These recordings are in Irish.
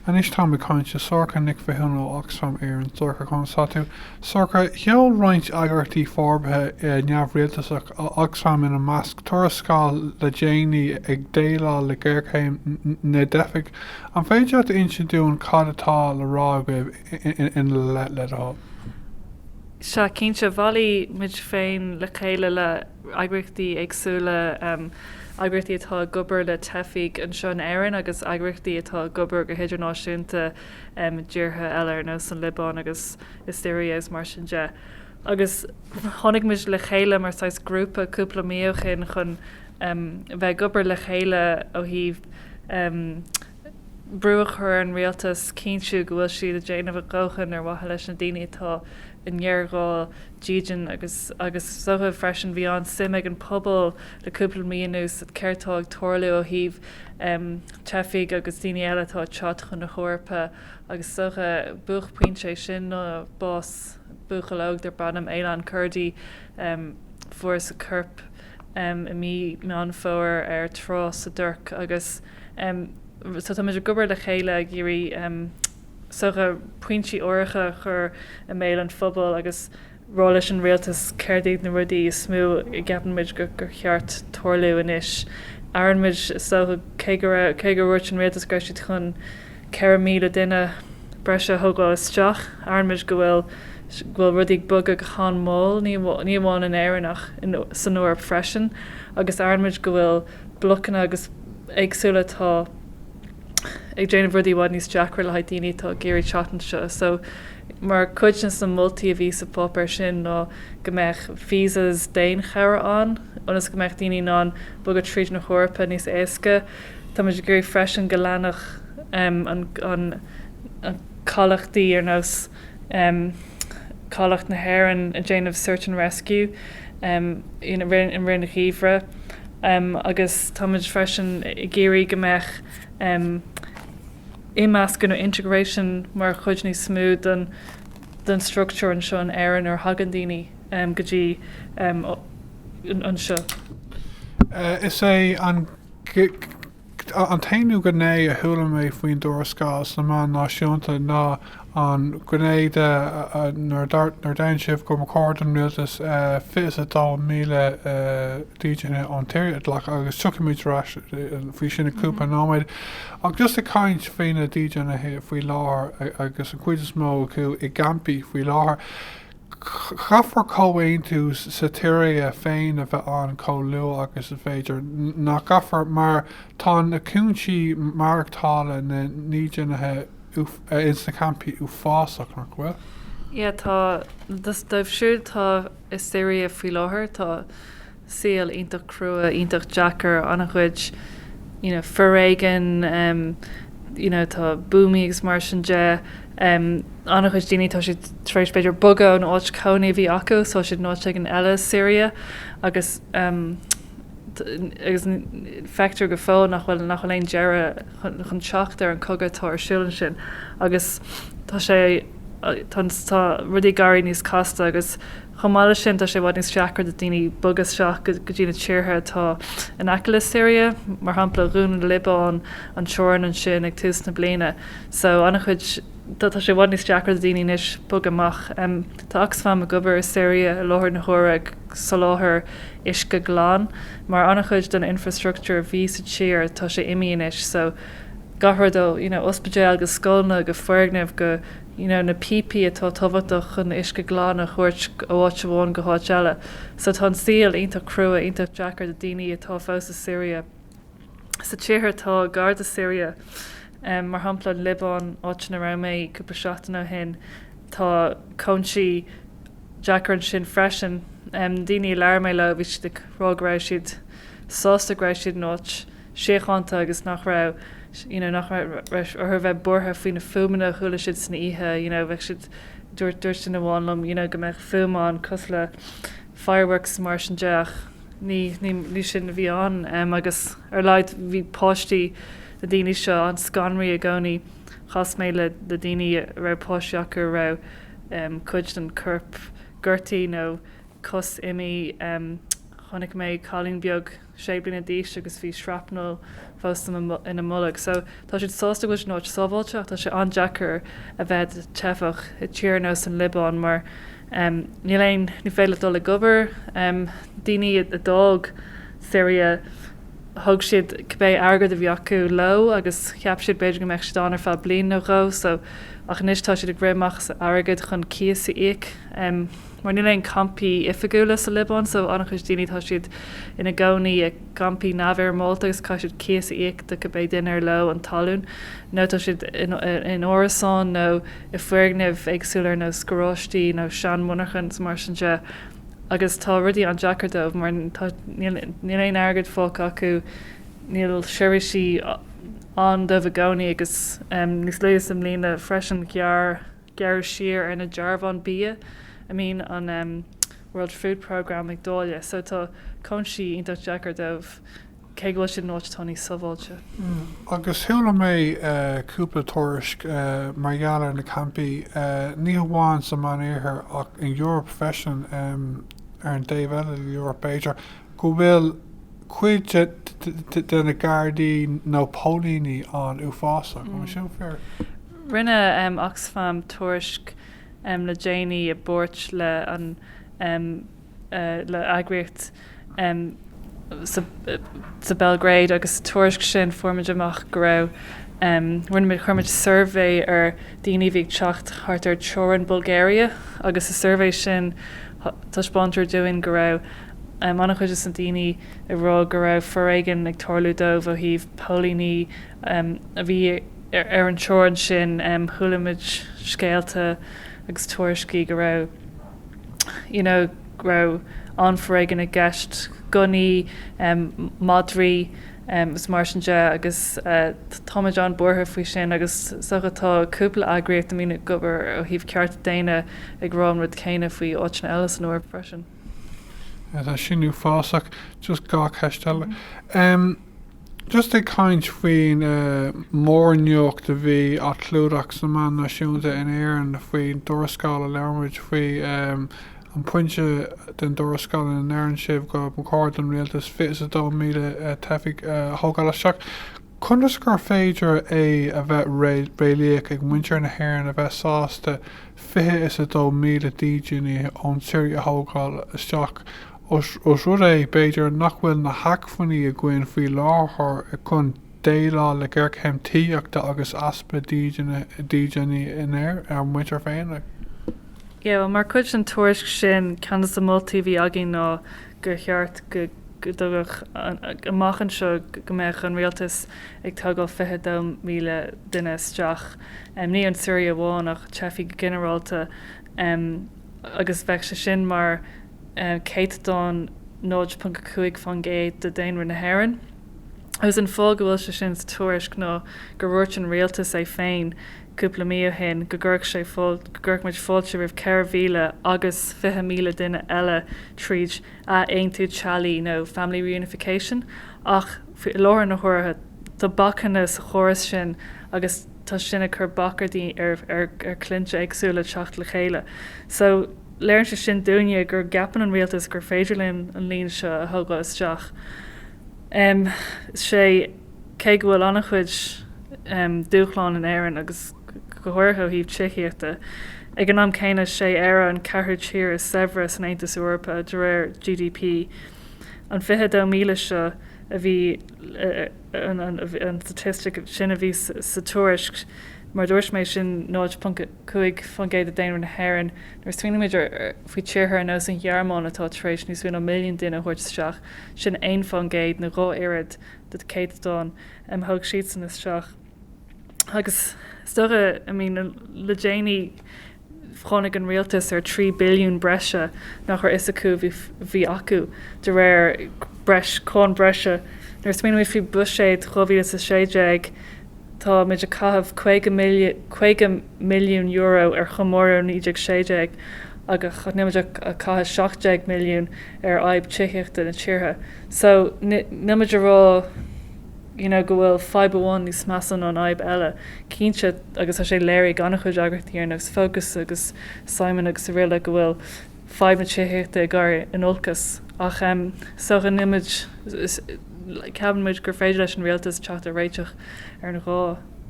Anois táim ag caint le Sorcha Nic Mhathúna ó Oxfam Éireann. Sorcha, conas atá tú? Sorcha, Sheol roinnt eagraíochtaí forbartha neamhrialtasach Oxfam ina measc, tuarascáil le déanaí ag déileáil le géarchéim na dteifigh. An féidir leat a insint dúinn cad atá le rá agaibh ina leith, le do thoil? Sea, cinnte, bhailigh muid féin le chéile le. eagraíochtaí éagsúla, eagraíochtaí atá ag obair le teifigh anseo in Éirinn agus eagraíochtaí atá ag obair go hidirnáisiúnta i dtíortha eile ar nós an Liobáin agus sa tSiria agus mar sin de. Agus tháinig muid le chéile mar saghas grúpa cúpla mí ó shin chun bheith ag obair le chéile ó thaobh brú a chur ar an rialtas cinntiú go bhfuil siad ag déanamh a dhóthain ar mhaithe leis na daoine atá i ngéarghá dídean agus agus is dócha freisin bhí an-suim ag an pobal le cúpla mí anuas sa céard atá ag tarlú ó thaobh teifigh agus daoine eile atá ag teacht chun na hEorpa agus is dócha buaicphointe de sin ná bás buachaill óg darb ainm Aylan Kurdi. Fuarthas a corp i mí Meán Fómhair ar trá sa Tuirc agus so táimid ag obair le chéile ag iarraidh is dócha, pointí áirithe a chur i mbéal an phobail agus rá leis an rialtas céard iad na rudaí is mó a gceapann muid gur cheart tarlú anois. Airíonn muid is dócha cé go raibh, cé gur dhúirt an rialtas go raibh siad chun 4,000 duine breise a thógáil isteach, airíonn muid go bhfuil, go bhfuil rudaí ag bogadh go han-mhall, ní, ní amháin in Éirinn ach in, san Eoraip freisin agus airíonn muid go bhfuil blocanna agus éagsúla atá. ag déanamh rudaí i bhfad níos deacra le haghaidh daoine atá ag iarraidh teacht anseo. So mar chuid de na moltaí a bhí sa pháipéar sin ná go mbeadh visas daonchabhra ann ionas go mbeadh daoine in ann bogadh tríd na hEorpa níos éasca. Táimid ag iarraidh freisin go leanfadh an cabhlachtaí ar nós. um Cabhlach na hÉireann ag déanamh Search and Rescue um i rith an gheimhridh um agus táimid freisin ag iarraidh go mbeadh um imeascadh nó integration mar chuid níos mó den den structúr anseo in Éirinn nuair a thagann daoine um go dtí um anseo. Is é an. An t-aonú gné a chuala mé faoin dtuarascáil sna meáin náisiúnta ná an ghné de nuair a deireann sibh gur chóir don rialtas 22,000 dídeanaithe ón tSiria a ghlacadh agus tiocfaimid ar ais faoi sin i gcúpla nóiméad ach just ag caint faoi na dídeanaithe faoi láthair agus an chuid is mó acu i gcampaí faoi láthair. Caithfear comhaontú sa tSiria féin a bheith ann chomh luath agus is féidir, nach gcaithfear? Mar tá na cúinsí maireachtála, na ndídeanaithe ins na campaí uafásach, nach bhfuil? Yeah, tá. Dóibh siúd tá i Siria faoi láthair, tá. saol iontach crua, iontach deacair, an-chuid you know foréigean, you know tá buamaí agus mar sin de, an-chuid daoine tá siad tar éis b'fhéidir bogadh ón áit chónaí a bhí acu so tá siad in áit éigin eile i Siria agus agus feictear go fóill nach bhfuil nach bhfuil aon deireadh chun chun teacht ar an chogadh atá ar siúl ansin agus tá sé tá tá rudaí ag éirí níos casta agus Chomh maith leis sin, tá sé i bhfad níos deacra do dhaoine bogadh isteach go dtí na tíortha atá in aice le Siria, mar shampla, dhún an Liobáin an teorainn ansin ag tús na bliana, so an-chuid, tá sé i bhfad níos deacra do dhaoine anois bogadh amach. Tá Oxfam ag obair i Siria i láthair na huaire ag soláthar uisce glan, mar an-chuid den infreastructúr a bhí sa tír, tá sé imí anois, so gach rud ó, you know, ospidéil go scoileanna go foirgnimh go. you know na píopaí atá tábhachtach chun uisce glan a thabhairt ó áit amháin go háit eile. So tá an saol iontach crua, iontach deacair do daoine atá fós i Syria. Sa tíortha atá gar do Syria, em, mar shampla an Liobáin, áit ina raibh mé cúpla seachtain ó shin, tá cúinsí deacair ansin freisin. Em, na daoine a labhair mé leo, bhí siad ag rá go raibh siad sásta go raibh siad in áit, síochánta agus nach raibh you know nach raibh orthu a bheith buartha faoi na fuaimeanna a chuala siad san oíche you know bheadh siad dúirt dúirt duine amháin liom you know go mbeadh fuaim ann cosúil le fireworks mar sin de ach ní ní ní sin a bhí ann em agus ar a laghad bhí páistí na daoine seo an scanraí i gcónaí chas mé le le daoine a raibh páistí acu a raibh em cuid den corp gortaí nó cos imi em chonaic mé cailín beag sé bliana d'aois agus bhí shrapnal fós ina bolg. So tá siad sásta go bhfuil siad in áit sábháilte ach tá sé an-deacair a bheith i do theifeach i tír ar nós an Liobáin mar níl aon, ní féidir leat dul ag obair. Daoine a d'fhág Siria, thug siad cibé airgead a bhí acu leo agus cheap siad b'fhéidir go mbeadh siad ann ar feadh bliain nó dhó, so ach anois tá siad ag rith amach as airgead chun cíos a íoc. mar níl aon campaí oifigiúla sa Liobáin so an-chuid daoine tá siad ina gcónaí i gcampaí neamhfhoirmeálta agus caithfidh siad cíos a íoc do cibé duine ar leo an talún nó tá siad in árasáin nó i bhfoirgnimh éagsúla ar nós garáistí nó seanmhonarchain is mar sin de agus tá rudaí an-deacair dóibh mar níl aon airgead fágtha acu níl seirbhísí ann dóibh i gcónaí agus níos luaithe sa mbliana freisin ghearr gearradh siar ar na dearbháin bia a mbíonn an World Food Programme ag dáileadh, so tá cúinsí iontach deacair dóibh, cé go bhfuil siad in áit atá níos sábháilte. Agus chuala mé cúpla tuairisc mar gheall ar na campaí, ní hamháin sa Mheánoirthear ach san Eoraip freisin, ar an dtaobh eile den Eoraip b'fhéidir, go bhfuil cuid de na gardaí nó póilíní ann uafásach, an bhfuil sin fíor? Rinne Oxfam tuairisc le déanaí i bpáirt le an le eagraíocht sa Bhéalgrád agus sa tuairisc sin fuair muid amach go raibh rinne muid chuir muid suirbhé ar daoine a bhí ag teacht thart ar teorainn Bulgaria agus sa suirbhé sin taispeántar dúinn go raibh an-chuid de na daoine a rá go raibh foréigean ag tarlú dóibh ó thaobh póilíní a bhí ar an teorainn sin. Chuala muid scéalta agus tuairiscí go raibh you know go raibh an-fhoréigean i gceist, gunnaí, madraí agus mar sin de agus tá muid an-buartha faoi sin agus so tá cúpla eagraíocht a mbíonn ag obair ó thaobh cearta daonna ag rá an rud céanna faoi áiteanna eile san Eoraip freisin. Tá sin uafásach. Just dhá cheist eile. Just ag caint faoin mórnuacht a bhí á chlúdach sna meáin náisiúnta in Éirinn faoin dtuarascáil a labhair muid faoi, an pointe den dtuarascáil ina ndeireann sibh go mba chóir don rialtas 22,000 teifigh a thógáil isteach, conas gur féidir é a bheith réalaíoch ag muintir na hÉireann a bheith sásta 22,000 dídeanaí ón tSiria a thógáil isteach ós rud é, b'fhéidir, nach bhfuil na hacmhainní againn faoi láthair chun déileáil le géarchéim tithíochta agus easpa dídine inár muintir féin. Mar chuid den tuairisc sin, ceann de na moltaí a bhí againn ná gur cheart go dtuigfeadh an amach anseo go mbeadh an rialtas ag tógáil 22,000 duine isteach, ní ón tSiria amháin ach teifigh go ginearálta, agus bheadh sé sin mar. céatadán 0.5% de dhaonra na hÉireann, agus an fáth go bhfuil sé sin sa tuairisc ná gur dhúirt an rialtas é féin cúpla mí ó shin go gcuirfeadh sé go gcuirfeadh muid fáilte roimh 4,000 agus 20,000 duine eile tríd ath-aontú teallaigh nó family reunification ach i láthair na huaire tá bacanna sa chóras sin agus tá sin ag cur bac ar daoine ar ar ar clainne éagsúla teacht le chéile so Léiríonn sé sin dúinne go gceapann an Rialtas gur féidir linn an líon seo a thógáil isteach. Em, sé, cé go bhfuil an-chuid dúshláin in Éirinn agus go háirithe ó thaobh tithíochta, ag an am céanna is é Éire an ceathrú tír is saibhre san Aontas Eorpach de réir GDP. An 22,000 seo a bhí, an staitistic sin a bhí sa tuairisc, mar a dúirt mé, sin 0. 5% de daonra na hÉireann. Nuair a smaoinímid faoi tíortha ar nós an Ghearmáin atá tar éis níos mó ná milliún duine a thabhairt isteach, sin 1% nó dhá oiread an céatadán a thug siadsan isteach. Agus is dócha, i mí na, le déanaí tháinig an rialtas ar €3 billiún breise nach raibh fhios acu a bhí acu de réir breis, cáin bhreise. Nuair a smaoinímid faoi Bhuiséad 2016, Táimid ag caitheamh €50 milliún ar chomóradh 1916 agus nílimid ach ag caitheamh €17 milliún ar fhadhb tithíochta na tíre so nílimid ag rá you know go bhfuil fadhb amháin níos measa ná an fhadhb eile. Cinnte agus tá sé léirithe ag an-chuid eagraíochtaí ar nós Focus agus Simon agus araile go bhfuil fadhb na tithíochta ag dul in olcas ach is dócha, em, ceapann muid gur féidir leis an rialtas teacht ar réiteach ar an dhá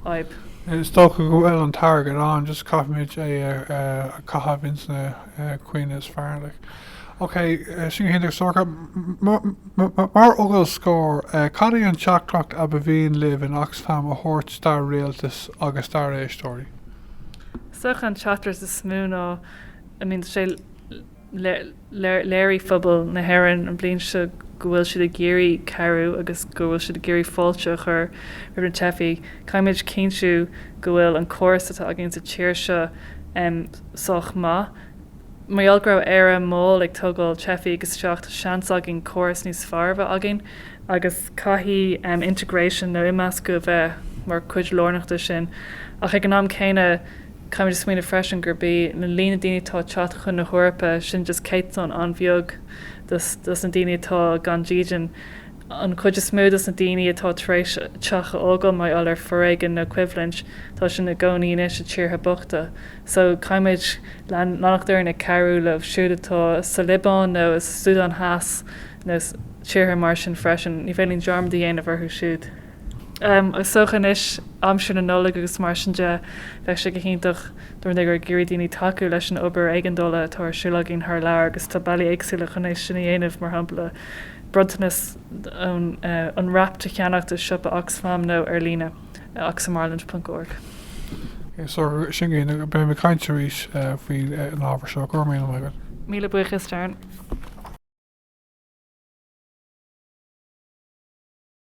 fhadhb. Is dócha go bhfuil an t-airgead ann just caithfimid é a chaitheamh ins na caoi is fearr like. Ok, sin go hiontach Sorcha, mar fhocal scoir, cad é an teachtaireacht a ba mhian libh in Oxfam a thabhairt don rialtas agus dár n-éisteoirí? Is dócha an teachtaireacht is mó ná. I mean, sé, léirigh pobal na hÉireann an bhliain seo go bhfuil siad ag iarraidh cabhrú agus go bhfuil siad ag iarraidh fáilte a chur roimh na teifigh. Caithfimid cinntiú go bhfuil an córas atá againn sa tír seo em sách maith. Mar gheall go raibh Éire mall ag tógáil teifigh isteach, tá seans againn córas níos fearr a bheith againn, agus caithfidh em integration nó imeascadh a bheith mar chuid lárnach de sin ach ag an am céanna, Caithfimid a smaoineamh freisin gurb í an líon daoine atá ag teacht chun na hEorpa, sin just céatadán an-bheag dos na daoine atá gan dídean. An chuid is mó dos na daoine atá tar éis teach a fhágáil mar gheall ar fhoréigean nó coimhlint, tá siad ina gcónaí anois i tíortha bochta. So, caithfimid leanacht orainn ag cabhrú leo siúd atá sa Liobáin nó sa Súdáin Theas nó tíortha mar sin freisin. Ní féidir linn dearmad a dhéanamh orthu siúd. Agus is dócha anois aimsir na Nollag agus mar sin de, bheadh sé go hiontach dar ndóigh ag iarraidh daoine tacú leis an obair éigeandála atá ar siúl againn thar lear agus tá bealaí éagsúla chun é sin a dhéanamh, mar shampla bronntanas Unwrapped a cheannacht i siopa Oxfam nó ar líne, oxfamireland.org. So sin é, beidh mé ag caint arís faoin an ábhar seo, go raibh míle maith agat. Míle buíochas Darren.